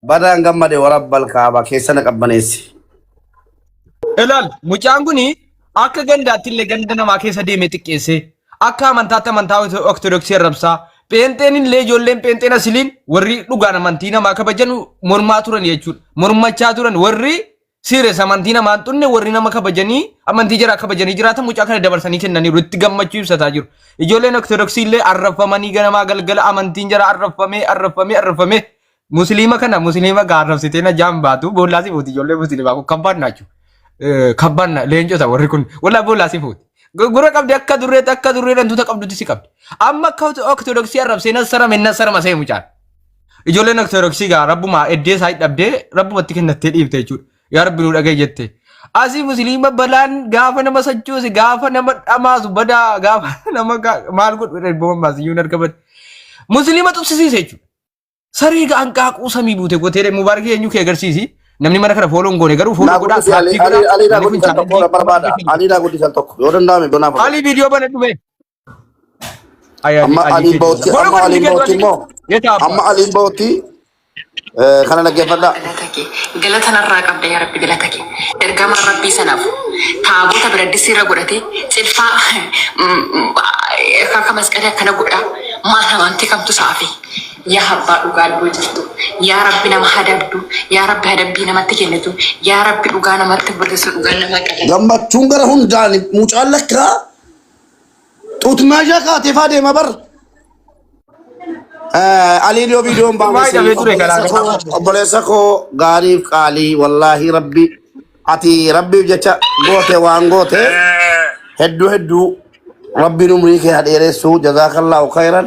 Badaan gammade warabbal kaaba keessa na qabbaneessi. Ilaal mucaan kun akka gandaatti illee ganda namaa keessa deemee xiqqeessee akka amantaatti amantaa ortodoksii arrabsaa pheenxeen illee ijoolleen pheenxeen asiliin warri dhugaan amantii namaa kabajanu mormaa turan jechuudha. Mormachaa turan warri Siires amantii namaan xunne warri nama kabajanii amantii jaraa kabajanii jiraatan mucaa kana dabarsanii kennaniiru itti gammachuu ibsataa jiru. Ijoolleen Ortodoksii illee arrabfamanii ganamaa galgala amantiin jaraa arrabfamee arrabfamee arrabfamee musliima kana musliima gaa arrabsitee na jaan baatu boollaa si fuuti ijoollee musliimaa kun kabbaan naachu. Kabbaan na leencota warri kun wallaa boollaa si fuuti. Gura qabdi akka durreetti akka durreen hantuuta qabdutti si qabdi. Amma akka Ortodoksii arrabsee na sarame na sarama see mucaan. Ijoolleen Ortodoksii gaa rabbumaa eddee isaa dhabdee rabbumatti kennattee dhiifte jechuudha. Yaa rabbi nu dhagahi jette. Asii musliima balaan gaafa nama sochoose gaafa nama dhamaasu badaa gaafa nama gaa- maal godhu ergama maasiyyuun erga bade. Musliima tuksisiise jechuudha. Saree gaa hanqaaquu samii buute gootee mubaarakii eenyu kee agarsiisi. Namni mana kana fooloo hin goone garuu fooloo Naa godhaa guddisi Ali saappii Ali godhaa. Aliidhaa Namni kun guddisan tokko chaanaalii barbaada. Aliidhaa guddisan tokko yoo danda'ame donaaf. Ali viidiyoo bana dhume. Ayani Amma Ali aliin bootti Kejola. Kono amma kono aliin bootti Kejola. immoo Yeta abba. amma aliin bootti eh, kana dhaggeeffadha. galata kee galata narraa qabda yaa rabbi galata kee ergamaa rabbii sanaaf taabota biraddisii irra godhate cilfaa akka masqalii akkana godha maal amantii kamtu saafi yaa abbaa dhugaa dhuguu jirtu yaa rabbi nama hadabdu yaa rabbi hadabbii namatti kennitu yaa rabbi dhugaa namatti burrisu dhugaa nama qala Gammachuun gara hundaan mucaan lakkaa Xuut maashaa kaatee faa deema bar. Aliin yoo viidiyoon Dhumaa baafese hidhamee ture obboleessa galaa koo galaa. obboleessa koo gaariif qaalii wallaahi rabbi ati rabbiif jecha goote waan goote hedduu hedduu rabbiin umrii kee haa dheeressu jazaakallaahu khayran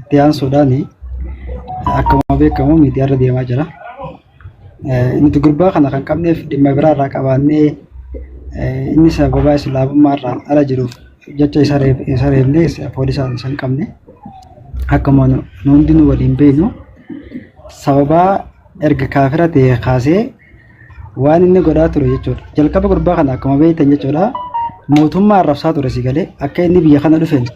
Itti aansuudhaan akkuma beekamu miidiyaarra deemaa jira. Nuti gurbaa kana kan qabneef dhimma biraarraa qabaannee inni sababaa islaamummaarraan ala jiruuf jecha isa reebnee poolisaan isa hin qabne. Akkuma nu hundinuu waliin beeknu sababaa erga kaafira ta'e kaasee waan inni godhaa ture jechuudha. Jalqaba gurbaa kana akkuma beektan jechuudha mootummaa arrabsaa ture si galee akka inni biyya kana dhufeen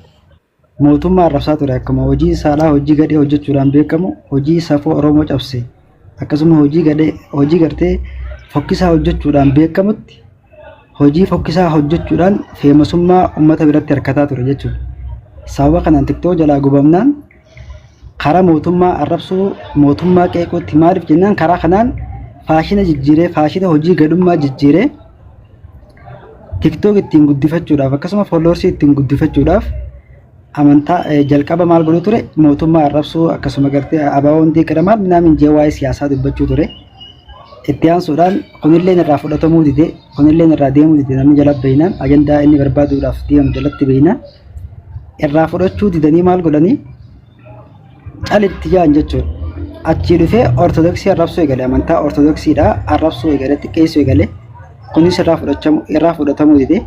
mootummaa arrabsaa ture akkuma hojii saalaa hojii gadhee hojjechuudhaan beekamu hojii safuu Oromoo cabse akkasuma hojii gadhee hojii gartee fokkisaa hojjechuudhaan beekamutti hojii fokkisaa hojjechuudhaan feemasummaa uummata biratti harkataa ture jechuudha. Sababa kanaan tiktoo jalaa gubamnaan karaa mootummaa arrabsuu mootummaa qeequutti maaliif jennaan karaa kanaan faashina jijjiiree faashina hojii gadhummaa jijjiiree TikTok ittiin guddifachuudhaaf akkasuma followers ittiin guddifachuudhaaf amantaa eh, jalqaba maal godhu ture mootummaa arrabsuu akkasuma gartee abaaboo hundee qiramaan minaamin jee waa'ee siyaasaa dubbachuu ture itti aansuudhaan kunilleen irraa fudhatamuu dide kunilleen irraa deemuu dide namni jala beeynaan ajandaa inni barbaaduudhaaf deemu jalatti beeynaan irraa fudhachuu didanii maal godhanii calitti jaan jechuudha. Achii dhufee ortodoksii arrabsuu eegale amantaa ortodoksiidha arrabsuu eegale xiqqeessuu eegale kunis irraa fudhachamu irraa fudhatamuu dide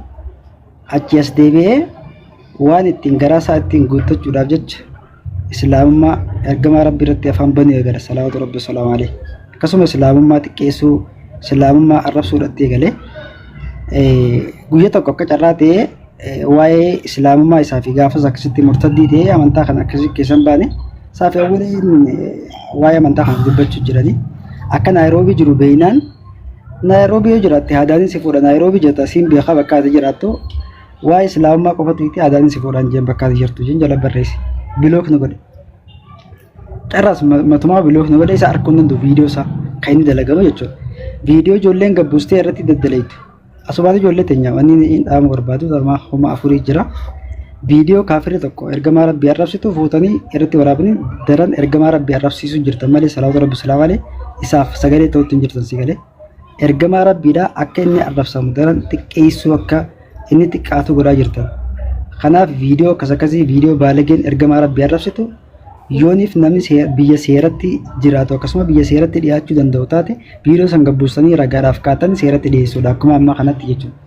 achii as deebi'ee waan ittiin garaa isaa ittiin guuttachuudhaaf jecha islaamummaa ergamaa rabbii irratti afaan banuu eegale salawaatu rabbi salaamu alayhi akkasuma islaamummaa xiqqeessuu islaamummaa arrabsuudhaatti eegale guyya tokko akka carraa ta'ee waa'ee islaamummaa isaa fi gaafas akkasitti murtaddii ta'ee amantaa kana akkasii keessan baane saafi awwaliin waa'ee amantaa kana dubbachuu jiranii akka naayiroobii jiru beeynaan naayiroobii yoo jiraatte haadaanin si fuudha naayiroobii jirta siin beekaa bakka ati jiraattu waa'ee islaamummaa qofatu itti haadaanin si fuudhaan jeen bakka ati jirtu jeen jala barreessi bilook nu godhe carraas matumaa bilook nu godhe isa arguu hin danda'u viidiyoo isaa kan inni dalagamu jechuudha viidiyoo ijoolleen gabbuustee irratti daddalaytu Asumaati ijoollee teenya wanni hin dhaamu barbaadu harmaa kuma afurii jira. Viidiyoo kaafirri tokko ergamaa rabbii arrabsitu fuutanii irratti waraabanii daran ergamaa rabbii arrabsiisuu jirtan malee salaatu rabbi silaa malee isaaf sagalee ta'utti hin jirtan si galee. Ergamaa rabbiidhaa akka inni arrabsamu daran xiqqeessuu akka inni xiqqaatu godhaa jirtan. Kanaaf viidiyoo akkas akkasii viidiyoo baalageen ergamaa rabbii arrabsitu Yooniif namni see- biyya seeratti jiraatu akkasuma biyya seeratti dhiyaachuu danda'u taate viidiyoo san gabbuustanii ragaadhaaf kaatanii seeratti dhiyeessuudha akkuma amma kanatti jechuudha.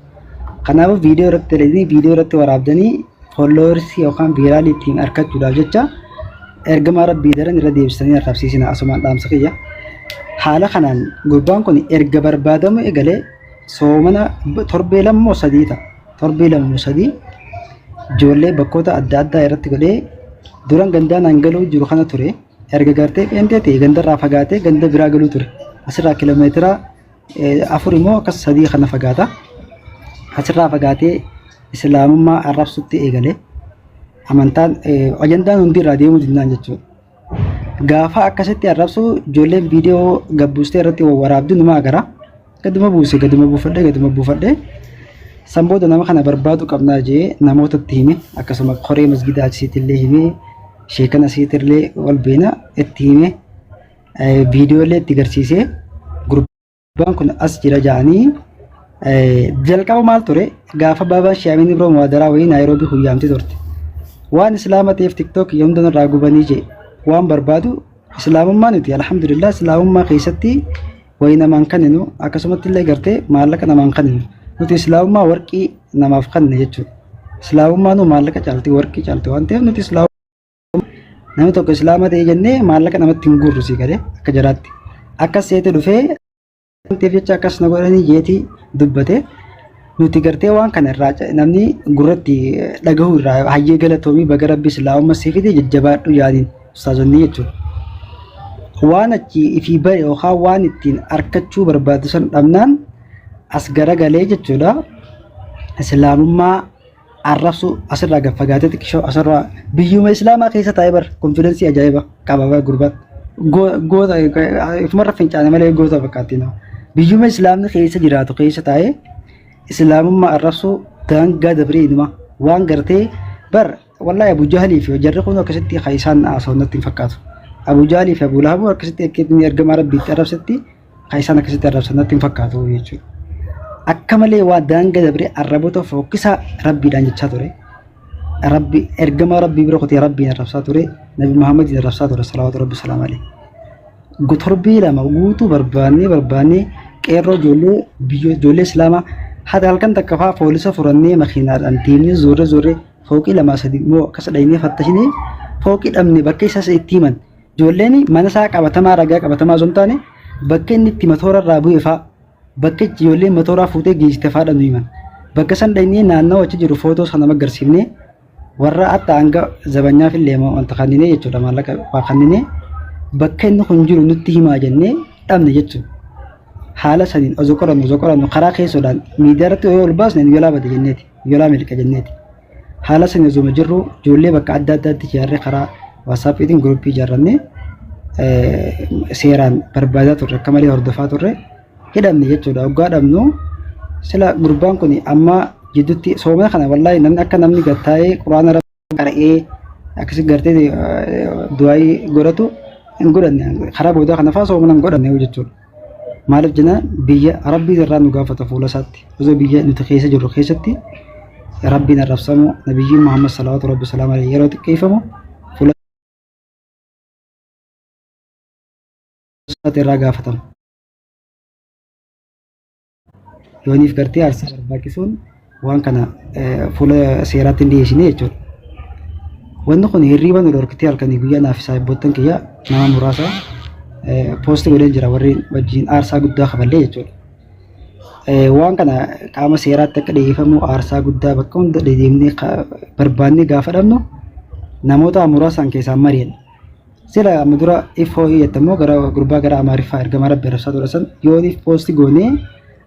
Kanaafuu viidiyoo irratti dalagnii viidiyoo irratti waraabdanii followers yookaan viiraalii ittiin argachuudhaaf jecha ergamaa rabbii daran irra deebisanii arrabsiisina asumaan dhaamsa kiyya. Haala kanaan gurbaan kun erga barbaadamuu egalee soomana torbee lama moo sadii ta'a. torbee lama moo sadii ijoollee bakkoota adda addaa irratti godhee duran gandaa naan galuu jiru kana ture erga gartee pheentee ta'e gandarraa fagaatee ganda biraa galuu ture asirraa kilomeetira eh, afur immoo akkas sadii kana fagaata asirraa fagaatee islaamummaa arrabsutti eegale amantaan eh, ajandaan hundi irraa deemuu danda'an jechuudha. Gaafa akkasitti arrabsu ijoolleen viidiyoo gabbuustee irratti waraabdu numa agara. Gaduma buuse gaduma buufadhe gaduma buufadhe. San booda nama kana barbaadu qabnaa jee namoota itti hime akkasuma koree masgidaa achisiitti illee hime sheekana asiitti illee wal beena itti hime viidiyoo illee itti garsiisee Gurbaan kun as jira ja'anii jalqaba maal ture gaafa baabaan shaamin ibroo muwaadaraa wayii naayiroobii huyyaamti turte waan islaama ta'eef tiktook yoomdan irraa gubanii jee waan barbaadu islaamummaa nuti alhamdulillah islaamummaa keessatti wayii namaan kanninu akkasumatti illee gartee maallaqa namaan kanninu nuti islaamummaa warqii namaaf kanne jechuudha islaamummaa nu maallaqa caalti warqii caalti waan ta'eef nuti islaamummaa Namni tokko islaama ta'e jennee maallaqa namatti hin guurru sii galee akka jaraatti. Akkas seete dhufee wanteef jecha akkas na godhanii jeetii dubbate. Nuti gartee waan kana irraa ca- namni gurratti dhagahuu irraa hayyee galatoomii baga rabbi islaamumma sii fide jajjabaadhu yaaniin ustaazonni jechuudha. Waan achi ifii ba'e yookaan waan ittiin arkachuu barbaadu san dhabnaan as garagalee jechuudha. Islaamummaa arrabsuu asirraa gad fagaatetti kishoo asirraa biyyuma islaamaa keessa taa'ee bar konfidensii ajaa'iba qaba bar gurbaan Go- goota ifumarra fincaane malee goota fakkaatti nama biyyuma islaamni keessa jiraatu keessa taa'ee islaamummaa arrabsuu daangaa dabree inuma waan gartee bar wallahi abu jahalii fi jarri kun akkasitti kan isaan haasawannatti hin fakkaatu abu jahalii fi abu lahabuu akkasitti akkatti ergamaa rabbiitti arrabsetti kan isaan akkasitti arrabsan natti hin fakkaatu jechuudha. Akka malee waa daanga dabree arraboota fookkisaa rabbiidhaan jechaa ture. Rabbi ergamaa rabbii bira kutee rabbiin arrabsaa ture. Nabi Muhammadiin arrabsaa ture salawaatu rabbi salaam alee. Torbee lama guutuu barbaannee barbaannee qeerroo ijoollee biyyoo ijoollee islaamaa haati halkan takka fa'aa poolisa furannee makiinaadhaan deemnee zoorree zoorree fooqii lamaa sadii immoo akkas dhaynee fattashinee fooqii dhabne bakka isaas itti himan. Ijoolleen mana isaa qabatamaa ragaa qabatamaa osoo hin taane bakka inni itti matoora irraa bu'e fa'aa bakka itti ijoolleen matooraa fuutee geessite fa'aa dhabnu himan. Bakka san dhaynee naannoo achi jiru footoo sana magarsiifnee warra hatta hanga zabanyaaf illee wanta kanninee jechuudha maallaqa waa kanninee bakka inni kun jiru nutti himaa jennee dhabne jechuudha. Haala saniin osoo qorannu osoo qorannu karaa keessoodhaan miidiyaa irratti yoo ol baasne nu jalaa bade jenneeti nu jalaa miliqa jenneeti. haala sana osuma jirru ijoollee bakka adda addaatti ijaarree karaa waasaapiitiin guruppii ijaarrannee seeraan barbaadaa turre akka malee hordofaa turre hidhamne jechuudha oggaa dhabnu sila gurbaan kun amma jidduutti soomee kana wallaahi namni akka namni gattaa'ee quraana rabbi qara'ee akkasi gartee du'aayii godhatu hin godhanne karaa boodaa kana fa'aa soomana hin godhanne jechuudha. Maaliif jenna biyya rabbiin irraa nu gaafata fuula isaatti osoo biyya nuti keessa jirru keessatti rabbiin arrabsamu nabiyyiin Muhammad salawaatu rabbi salaam alayhi yeroo xiqqeeffamu fuula isaatti irraa gaafatama. Yooniif gartee aarsaa barbaachisuun waan kana fuula seeraatti hin dhiyeessine jechuudha. Wanni kun hirriiba nu dhorkitee halkanii guyyaa naaf isaa eebboottan kiyya nama muraasa poosti godheen jira warri wajjin aarsaa guddaa kaballee jechuudha. Waan kana qaama seeraatti akka dhiyeeffamu aarsaa guddaa bakka hunda dedeemnee barbaannee gaafa dhabnu namoota muraasaan keessaan mari'anna. Sila amma dura if hoo'ii jette immoo gara gurbaa gara Amaariffaa ergamaa rabbi arrabsaa ture san yooniif poosti goonee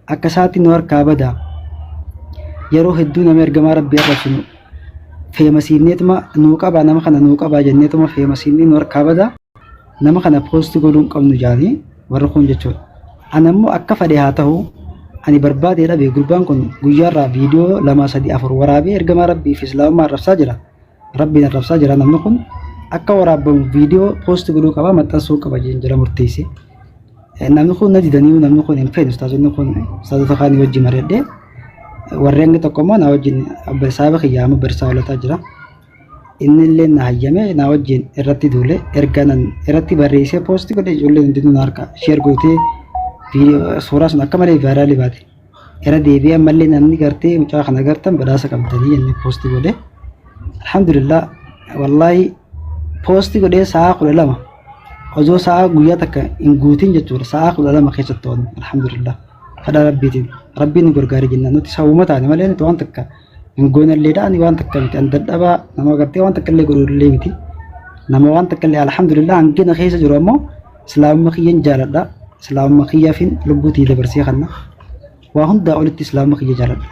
akka isaatti nu harkaa bada. Yeroo hedduu nama ergamaa rabbi arrabsinu feemasiifneetuma nuu qabaa nama kana nuu qabaa jenneetuma feemasiifnee nu harkaa bada. Nama kana poosti godhuu hin qabnu jaanii warri kun jechuudha. Ana immoo akka fedhe haa ta'u ani barbaadee dhabe gurbaan kun guyyaarraa viidiyoo lama sadii afur waraabee ergamaa rabbii fi islaamummaa arrabsaa jira. Rabbiin arrabsaa jira namni kun akka waraabbamu viidiyoo poosti godhuu qaba maxxansuu qaba jeen jala murteesse. Eh, Namni kun na didaniiru namni kun hin feene ustaazonni kun ustaazota kaanii wajjin mari'adhee warreen inni tokko immoo na wajjin abba saaba kiyyaa amma barsaa olataa jira. Inni illee na hayyame na wajjin irratti duule erga nan irratti barreessee poosti godhe ijoolleen hundinuu na harka sheer gootee viidiyoo suuraa sun akka malee vaayiraalii baate. Irra deebi'ee ammallee namni gartee mucaa kana gartan badhaasa qabdanii inni poosti godhe. Alhamdulillah wallaahi poosti godhee sa'aa kudha lama osoo sa'aa guyyaa takka hin guutin jechuudha sa'aa kudha lama keessatti to'anne alhamdulillah kadhaa rabbiitiin rabbiin nu gargaare jennaan nuti sababuma taane malee nuti waan takka hin goonalleedha ani waan takka miti an dadhabaa nama gartee waan takka illee godhullee miti nama waan takka illee alhamdulillah hangina keessa jiru ammoo islaamumma kiyyan jaaladha islaamumma kiyyaafin lubbuutii dabarsee kanna waa hundaa olitti islaamumma kiyya jaaladha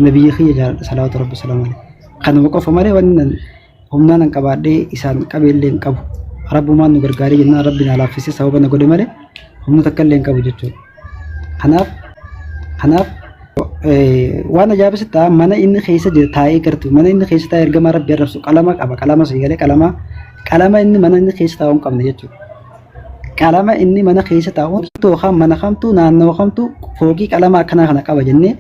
nabiyyi kiyya jaaladha salawaatu rabbi salaamu alayhi kanuma qofa malee wanni humnaan an qabaadhee isaan qabeellee hin qabu rabbumaan nu gargaaree jennaan rabbi naa laaffisee sababa na godhe malee humna takka illee hin qabu jechuudha kanaaf kanaaf waan ajaa'ibaa sitti ta'a mana inni keessa jiru taa'ee gartu mana inni keessa taa'ee ergamaa rabbi arrabsu qalama qaba qalama sii galee qalama qalama inni mana inni keessa taa'u hin qabne jechuudha qalama inni mana keessa taa'u tookaan mana kamtu naannoo kamtu foogii qalama akkanaa kana qaba jennee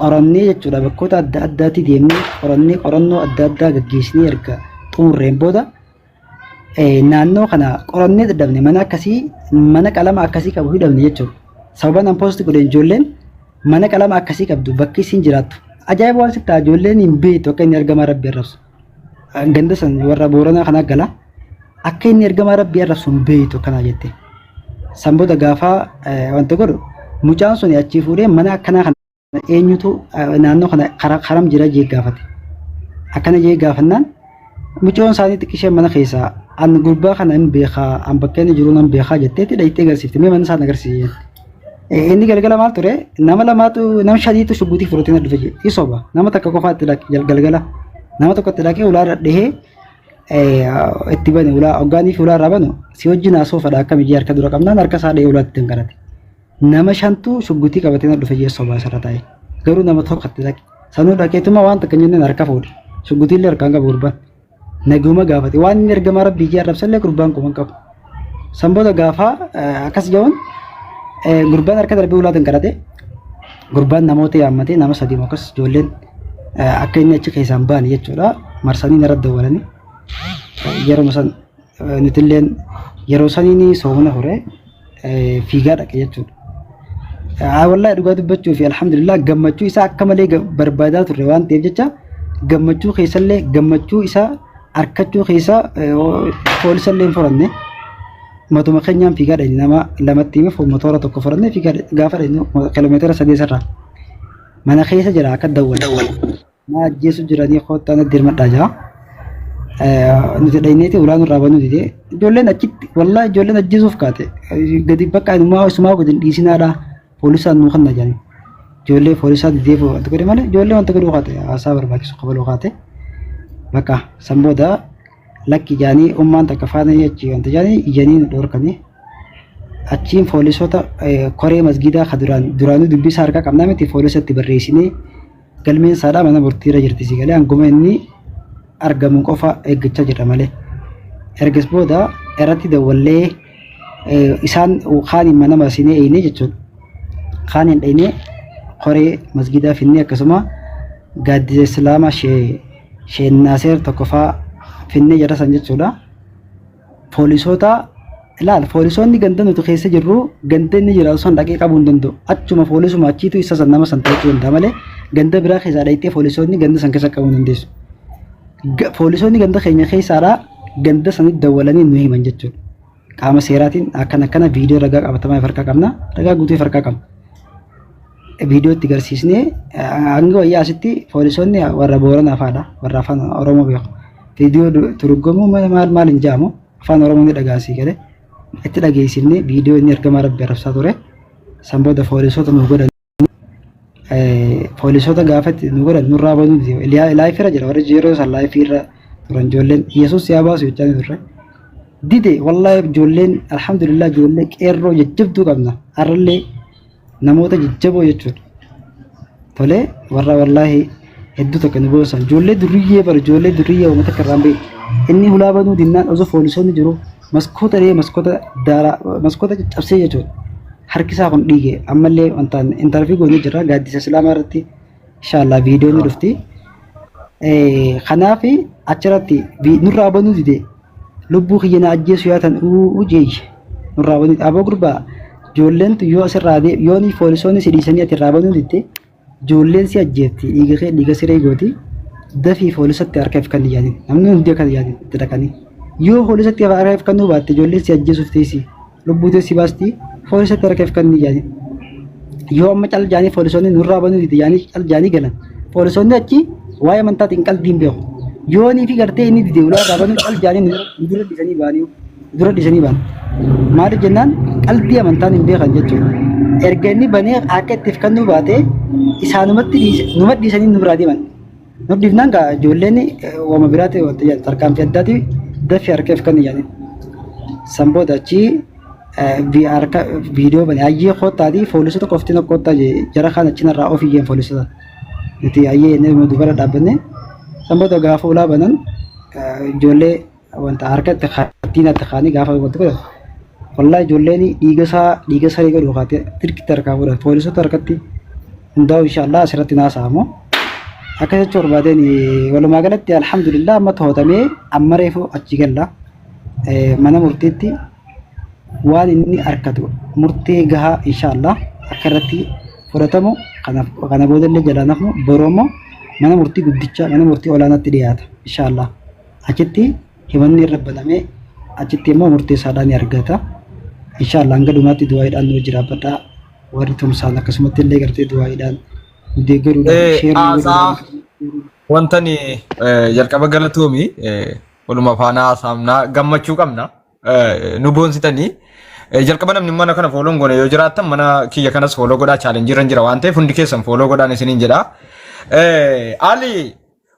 qorannee jechuudha bakkoota adda addaatti deemnee qorannee qorannoo adda addaa gaggeessinee erga xumurreen booda naannoo kana qorannee dadhabne mana akkasii mana qalama akkasii qabu hidhamne jechuudha. Sababa nan poosti godheen ijoolleen mana qalama akkasii qabdu bakki isin jiraattu. Ajaa'iba waan sitti ijoolleen hin beektu akka inni argamaa rabbi arrabsu. Ganda san warra booranaa kana gala akka inni ergamaa rabbii irra sun beeytu kana jette. San booda gaafa wanti godhu mucaan sun achii fuudhee mana akkanaa kana eenyutu naannoo kana karam jira jee gaafate. Akkana jee gaafannaan mucoon isaanii xiqqishee mana keessaa an gurbaa kana hin beekaa an bakka inni jiru nan beekaa jetteetti dhayittee agarsiifte mee mana isaan agarsiise. Inni galgala maal ture nama lamaatu nama shaniitu shugguutii fudhatee na dhufe jedhe isoba nama takka qofaatti dhaqe jal- galgala nama tokkotti dhaqee ulaa irra dhihee eh, itti bane ulaa hoggaanii fi ulaa irraa banu si wajjin haasoo fadha akka miyyee harka dura qabnaan harka isaa dhihee ulaatti hin garate nama shantu shugguutii qabatee na dhufe jedhe isoba asirra taa'e garuu nama tokkotti dhaqe sanuu dhaqeetuma waan takka hin jenneen harka fuudhe shugguutii illee harkaan qabu gurbaan Naguma gaafate waan inni ergamaa rabbii jee arrabsallee gurbaan quban qabu. San booda gaafaa akkas ja'uun gurbaan harka darbee ulaatiin kadhate gurbaan namoota yaammatee nama sadii moo akkas ijoolleen akka inni achi keessaan ba'an jechuudha marsanii narra dawwalanii yeruma san Nutilleen yeroo saniin soomana hore fiigaa dhaqe jechuudha. Wallahi dhugaa dubbachuu fi alhamdulillah gammachuu isaa akka malee barbaadaa turre waan ta'eef jecha gammachuu keessallee gammachuu isaa arkachuu keessa poolisallee hin furanne. Matuma keenyaan fiigaa dhaqne nama lamatti hime motora tokko furanne fiigaa gaafa dhaqne kiiloomeetira sadii sarraa. Mana keessa jira akka dawwan. Na ajjeesu jiranii koottaa na dirmadhaa jaa. Nuti dhayneeti ulaa nurraa banuu didee. Ijoolleen achitti wallaa ijoolleen ajjeesuuf kaate. Gadi bakka inumaa isumaa gadi hin dhiisinaadhaa. Poolisaan nuu kanna jedhanii. Ijoollee poolisaa didee wanta godhe malee ijoollee wanta godhuu kaate haasaa barbaachisu kabaluu kaate. Bakka san booda lakki jaanii ummaan takka faana achi wanta jaanii ijanii nu dhorkanii. achiin foolisoota koree masgiidaa ka duraan duraanuu dubbisaa harkaa qabnaa miti foolisatti barreessinee Galmeen isaadhaa mana murtii irra jirti si galee hanguma inni argamu qofa eeggachaa jirra malee. Ergas booda irratti dawwallee isaan kaaniin mana marsinee eeynee jechuudha. Kaaniin dhaynee koree masgiidaa finnee akkasuma gaaddisa islaamaa shee sheen naaseer tokkofaa finnee jarrasan jechuudha. poolisoota ilaal poolisoonni ganda nuti keessa jirru ganda inni jiraatu san dhaqee qabuu hin danda'u achuma poolisuma achiitu isa san nama san to'achuu danda'a malee ganda biraa keessaa dhaqxee poolisoonni ganda san keessa qabuu hin dandeessu. Ga- Poolisoonni ganda keenya keessaadhaa ganda sanitti dawwalanii nu himan jechuudha. Qaama seeraatiin akkana akkana viidiyoo ragaa qabatamaa of harkaa qabna ragaa guutuu of harkaa qabna. viidiyoo itti garsiisnee hanga wayyaa asitti poolisoonni warra Booranaa faadha warra afaan Oromoo beeku. Viidiyoo turgomuu maal maal hin jaamu afaan Oromoo ni dhagaasii galee itti dhageessifnee viidiyoo inni ergamaa rabbi arrabsaa ture san booda poolisoota nu godhan poolisoota gaafa itti nu godhan nurraa banuu laayifirra jira warri yeroo san laayifirra turan ijoolleen Yesuus yaa baasu jechaa turre. Dide wallaahi ijoolleen alhamdulillah ijoollee qeerroo jajjabduu qabna har'allee namoota jajjaboo jechuudha. Tolee warra wallaahi hedduu takka nu boonsan ijoollee durriyyee bara ijoollee durriyyee uummata akka irraan beeku. Inni hulaa banuu dinnaan osoo foolisoonni jiru maskoota dhee maskoota daaraa maskoota caccabsee jechuudha. Harki isaa kun dhiige ammallee wantaan intarvii goonee jirra gaaddisa islaamaa irratti Inshallah video ni dhufti. Eh kanaaf achirratti vi- nurraa banuu dide lubbuu kiyya na ajjeesu yaa tan uu jeeyye nurraa banuu aboo gurbaa ijoolleen tu yoo asirraa dee yoo ni poolisoonni si dhiisanii ati irraa banuu didde ijoolleen si ajjeefti dhiiga kee dhiiga siree gooti dafii poolisatti harka ifkan yaadin namni hundi akka yaadin itti dhaqanii yoo poolisatti harka ifkannuu baatte ijoolleen si ajjeesuuf teessii. lubbuu tee si baasti foolisa tara keef kan jaani yoo amma cal jaanii foolisoonni nurraa banuu dide jaanii cal jaanii galan foolisoonni achi waa'ee amantaatiin qaldiin beeku yoonii fi gartee inni dide ulaa irraa banuu cal jaanii nu dura dhisanii baanii nu dura dhisanii baan maaliif jennaan qaldii amantaan hin beekan jechuudha erga inni banee akka ittiif kan nu baate isaanumatti dhiise numa dhiisanii nurraa deeman Nudhiifnaan gaa ijoolleen wama biraatti wanti yaadu tarkaanfii addaati daffi harkeef kan yaadin. San booda achi harka viidiyoo bane hayyee koottaati foolisota qofti na koottaa jara kaan achi narraa of iyyeen foolisota. Nuti hayyee inni dubara dhaabbanne san booda gaafa ulaa banan ijoollee wanta harkatti kaattiin itti kaanii gaafa wanta godhan wallaa ijoolleen dhiiga isaa dhiiga saree godhu kaatee tirkitti harkaa godhan poolisoota harkatti hundaa'u inshaallah asirratti naasa'amu akka jecha barbaadeen walumaa galatti alhamdulillah amma to'atamee amma reefu achi galla mana murtiitti waan inni harkatu murtee gahaa inshaallah akka irratti fudhatamu kana boodallee jalaa nafu boroomoo mana murtii guddicha mana murtii olaanaatti dhiyaata inshaallah. achitti himanni irra banamee achitti immoo murtee isaadhaa ni argata. Inshaallah hanga dhumaatti du'aayiidhaan nu jiraafadhaa. Warri tumsaan akkasumatti illee gartee du'aayiidhaan nu deeggaruudhaan Eh, sheer nu haasaa godhuudhaan. wantani eh, jalqaba galatoomi eh, waluma faana haasaamnaa gammachuu qabna eh, nu boonsitanii eh, jalqaba namni mana kana fooloo hin goone yoo jiraattan mana kiyya kanas fooloo godhaa chaalenjii irra hin jira waan ta'eef hundi keessan fooloo godhaan isiniin jedha. Eh, Ali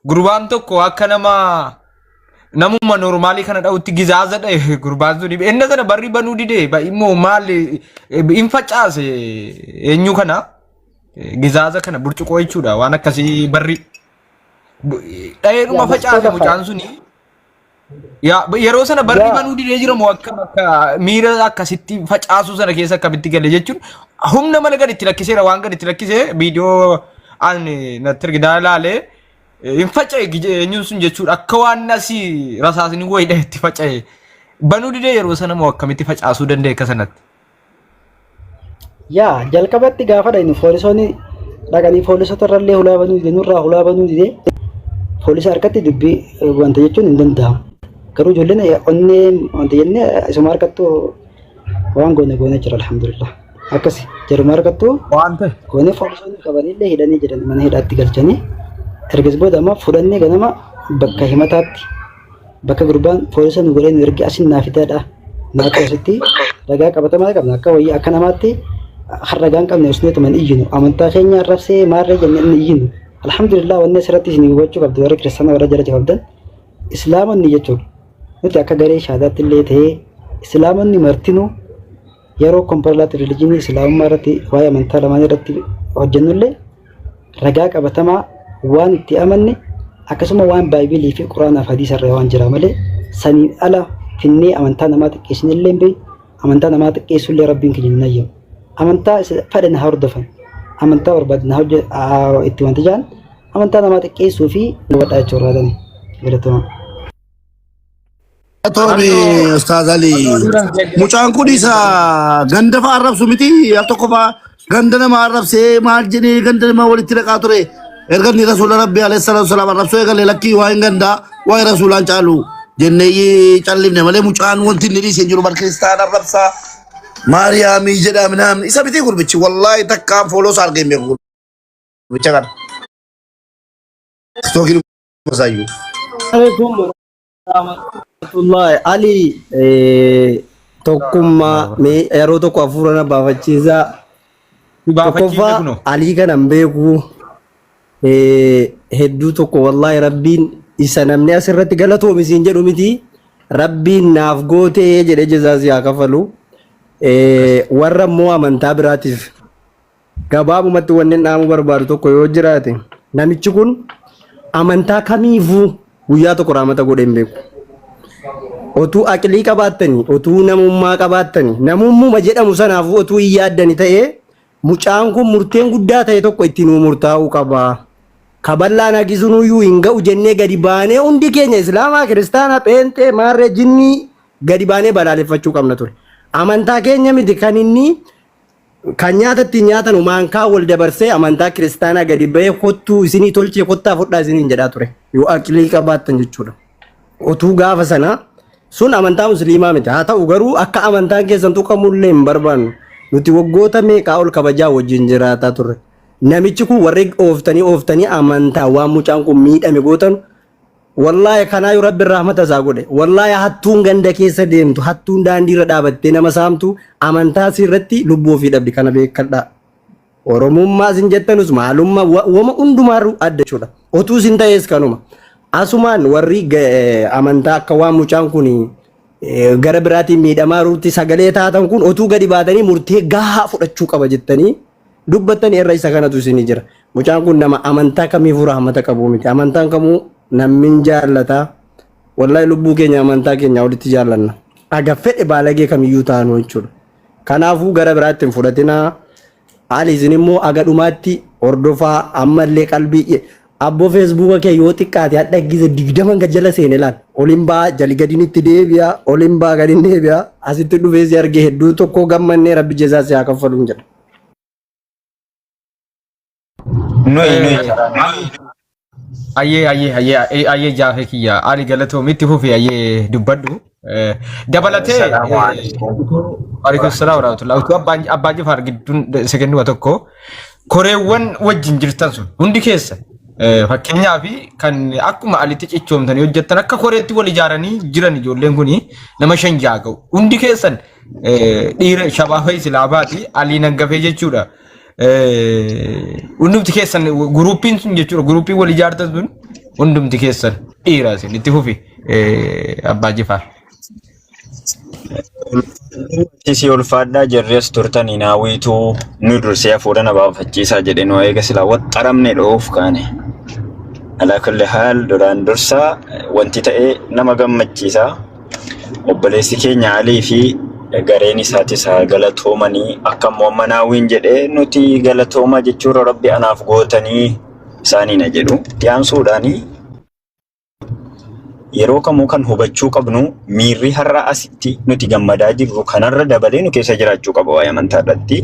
Gurbaan tokko akka nama namuma normaalii kana dha'utti gizaaza dha'e gurbaan sun enna sana barri banuu dide ba- immoo maal eh, hin facaase eenyu kana eh, gizaaza kana burcuqoo jechuudha waan akkasii barri bu- dha'eedhuma Yaa, facaase gosoota mucaan suni Yaa yeroo sana barri Yaa. banuu didee jira moo akkam akka miira akkasitti facaasuu sana keessa akkamitti gale jechuun humna mala gadi itti lakkiseera waan gadi itti lakkisee viidiyoo an natti ergidaa ilaalee hin faca'e gije- eenyuun sun jechuudha akka waan asii rasaasni wayidha itti faca'e banuu didee yeroo sana moo akkamitti facaasuu danda'e akka sanatti. Yaa jalqabatti gaafa dhaynu poolisoonni dhaqanii poolisota irrallee hulaa banuu dide nurraa hulaa banuu dide poolisa harkatti dubbii wanta jechuun hin danda'amu. Garuu ijoolleen onnee wanta jennee isuma harkattu waan goone goone jira alhamdulillah. Akkasi jaruma harkattu Waan ta'e. goone poolisoonni qabanillee hidhanii jiran mana hidhaatti galchanii ergas booda ammoo fudhannee ganama bakka himataatti Bakka gurbaan poolisa nu godhee nu erge asin naa fidaadha. Naa qoositti ragaa qabatamaa qabna akka wayii akka namaatti kan ragaan qabne usneetuma hin iyyinu amantaa keenya arrabsee maarree jenne hin iyyinu. Alhamdulillah wanni asirratti isin hubachuu qabdu warri kiristaana warra jala jababdan islaamonni jechuudha. Nuti akka garee shaadaatti illee ta'ee islaamonni martinuu yeroo komparlaatti rilijinii islaamummaa irratti waa'ee amantaa lamaan irratti hojjennullee ragaa qabatamaa waan itti amanne akkasuma waan baay'ee fi quraanaa fi hadiisa irraa waan jira malee saniin ala finnee amantaa namaa xiqqeessine illee hin beeknu amantaa namaa xiqqeessu illee rabbiin keenya hin ayyamu amantaa fedhe na hordofan amantaa barbaade na hojje itti wanti jaan amantaa namaa xiqqeessuu fi godhaa jechuudha galatoomaa. Tooni Ustaaz Ali. Mucaan kun isa ganda fa'aa arrabsu miti. Al tokko fa'aa ganda nama arrabsee maal jedhee ganda nama walitti dhaqaa ture. Erga inni rasuula rabbi alayhi salaatu salaam arrabsuu eegale lakkii waa hin gandaa waa hin rasuulaan caalu jennee callifne malee mucaan wanti inni dhiisee jiru bara kiristaana arrabsaa maariyaamii jedhaa minaamni isa miti gurbichi wallaahi takkaan fooloo isaa argee hin beeku gurbicha kana. Tookiin Muzaayu. Assalamualaikum warahmatullahi Ali eh, tokkummaa mee yeroo tokko hafuura na baafachiisaa tokkoffaa alii kanan beeku eh, hedduu tokko wallaahi rabbiin isa namni asirratti galatoomi siin jedhu miti rabbiin naaf gootee jedhe jezaa si haa kafalu Eh, warra immoo amantaa biraatiif Gabaabumatti wannin dhaamuu barbaadu tokko yoo jiraate namichi kun amantaa kamiifuu guyyaa tokko raamata godhee hin beeku. Otuu aqilii qabaattanii, otuu namummaa qabaattanii, namummuma jedhamu sanaafuu otuu hin yaaddani ta'ee mucaan kun murteen guddaa ta'e tokko itti nuu murtaa'uu qaba. Kaballaan haqisuun iyyuu hin ga'u jennee gadi baanee hundi keenya Islaamaa, Kiristaanaa, Pheenxee, Maarree, Jinnii gadi baanee balaaleffachuu qabna ture. Amantaa keenya miti kan inni Kan nyaata ittiin nyaatanu maankaa wal dabarsee amantaa kiristaanaa gadi ba'ee kottuu isinii tolchee kottaa fudhaa isiniin jedhaa ture. Yoo aqlii qabaattan jechuudha. Otuu gaafa sana sun amantaa musliimaa miti. Haa ta'u garuu akka amantaan keessan tuqamullee hin barbaannu. Nuti waggoota meeqaa ol kabajaa wajjin jiraataa turre. Namichi kun warri ooftanii ooftanii amantaa waan mucaan kun miidhame gootan Wallahi kanaayu rabbin rahmata isaa godhe wallahi hattuun ganda keessa deemtu hattuun daandii irra dhaabattee nama saamtu amantaa isii irratti lubbuu ofii dhabdi kana beekadhaa oromummaa isin jettanus maalummaa wa- wama hundumaarru adda jechuudha otuu isin ta'ees kanuma asumaan warri ga- eh, amantaa akka waan mucaan kun eh, gara biraatiin miidhamaa jirutti sagalee taatan kun otuu gadi baatanii murtee gahaa fudhachuu qaba jettanii dubbattani irra isa kanatu isini jira mucaan kun nama amantaa kamiifuu rahmata qabu miti amantaan kamuu nammin jaallata wallahi lubbuu keenya amantaa keenya olitti jaallanna aga fedhe baalagee kamiyyuu taanu jechuudha kanaafuu gara biraatti hin fudhatinaa haali isin immoo aga dhumaatti hordofaa ammallee qalbii Abbo fesbuka kee yoo xiqqaate hadha gize digdaman gad jala seene laal olin baa jali gadin itti deebi'a olin baa gadin deebi'a asitti dhufee si arge hedduu tokkoo gammannee rabbi jezaa si haa kaffaluun jedha. Nuyi nuyi ayyee ayyee ayyee ayyee jaafee kiyya ali galatoomi itti fufi ayyee dubbadhu. Dabalatee. Salaamu alaikum. Waalaikum salaam warahmatullahi utuu abbaan abbaan jifaar gidduun sekenduma tokko koreewwan wajjin jirtan sun hundi keessa eh, fakkeenyaa fi kan akkuma alitti cichoomtanii hojjettan akka koreetti wal ijaaranii jiran ijoolleen kun nama shan ja'a ga'u hundi keessan eh, dhiira shabaaba islaamaa fi alii nangafee jechuudha. hundumti keessan guruupiin sun jechuudha guruupiin wal ijaartan sun hundumti keessan dhiira isin itti fufi abbaa jifaar. Isii ulfaadhaa jirres turtan hin hawwiituu nu dursee hafuura na baafachiisaa jedhe nu eega silaa waxxaramne dhoof kaane. Alaa kulli haal duraan dursaa wanti ta'e nama gammachiisa. Obboleessi keenya Alii fi gareen isaatis haa galatoomanii akka immoo amma naawwiin jedhee nuti galatooma jechuurra rabbi anaaf gootanii isaaniina jedhu. Dhiyaansuudhaan yeroo kamuu kan hubachuu qabnu miirri har'a asitti nuti gammadaa jirru kanarra dabalee nu keessa jiraachuu qaba waa'ee amantaa irratti.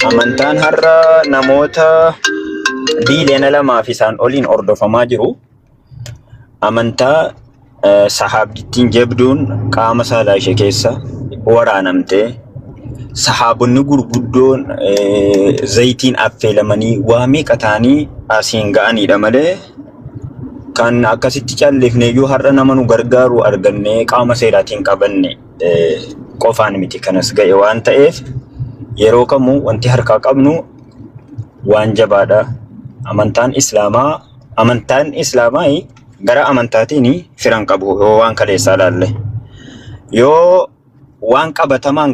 Amantaan har'a namoota biiliyoona lamaa fi isaan oliin hordofamaa jiru. amantaa eh, sahaabdittiin jabduun qaama saalaa ishee keessa waraanamtee sahaabonni gurguddoon eh, zayitiin affeelamanii waa meeqa ta'anii asiin ga'aniidha malee kan akkasitti calleefne iyyuu har'a nama nu gargaaru argannee qaama seeraatiin qabanne eh, qofaan miti kanas ga'e waan ta'eef yeroo kamuu wanti harkaa qabnu waan jabaadha. Amantaan Islaamaa amantaan islaamaa gara amantaatiin firan qabu yoo waan kaleessaa ilaalle yoo waan qabatamaan